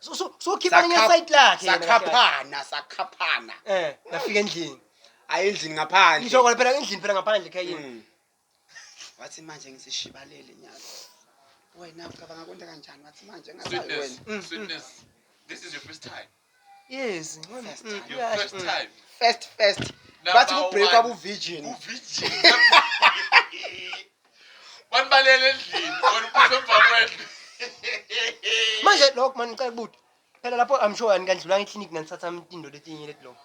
So- so- sokhipha elinye Sakha- side lakhe yena kahle kahle. sakhaphana sakhaphana Eh, ngafika endlini ayi endlini ngaphandle ngisho kona phela endlini phela ngaphandle ekhayeni Mm. wathi manje ngisishibalele nyazi wena ucabanga kwenta kanjani wathi manje ngasayi wena Sweetness, sweetness. This is your first time. Yes. First first. Bathi ku break abu virgin. Uvijini. Banibalele endlini, wena uphuthe emva kwendlu. Manje lokho man ngicela ukuthi phela lapho I'm sure anikandlulanga eclinic nanithatha imtindo letinye leti lokho.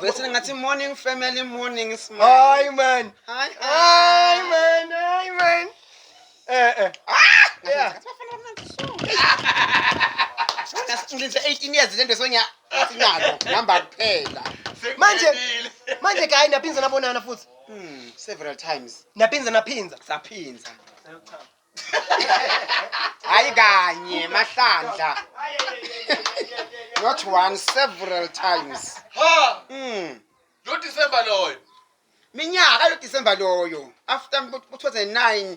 Bese ngathi morning family morning smile. Hayi man. Hayi hayi man. Hayi man. Eh eh. Ah! Yeah. Ngilinze 18 years lento sonya sinazo number kuphela. Manje manje kayi naphinza nabonana futhi. Hmm, several times. Naphinza naphinza. Saphinza. hayi kanye mahlandla not one several times ha mm. lo disemba loyo minyaka lo disemba loyo after 2009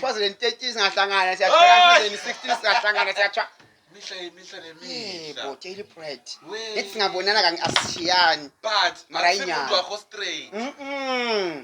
2013 singahlangana siyathola 2016 singahlangana siyathola mihla yemihla nemihla bo daily bread ngithi singabonana kanye asishiyani but mara inyanga wakho straight mm, -mm.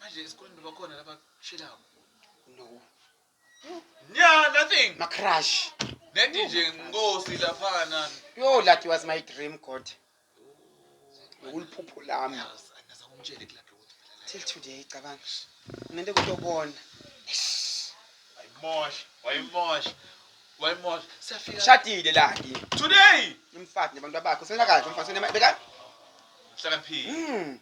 Manje esikoleni bakhona laba shelayo. No. Yeah, nothing. Ma crush. Nedi nje nkosi laphana. Yo that was my dream God. Uliphupho lami. Angaza kumtshele kulapho ukuthi phela la. Till today cabanga. Ngento kutobona. Wayimosha, wayimosha. Wayimosha. Siyafika. Shadile la ke. Today. Umfati nabantu bakho. Senza kahle umfati. Senema beka. Hlakaniphile. Mm.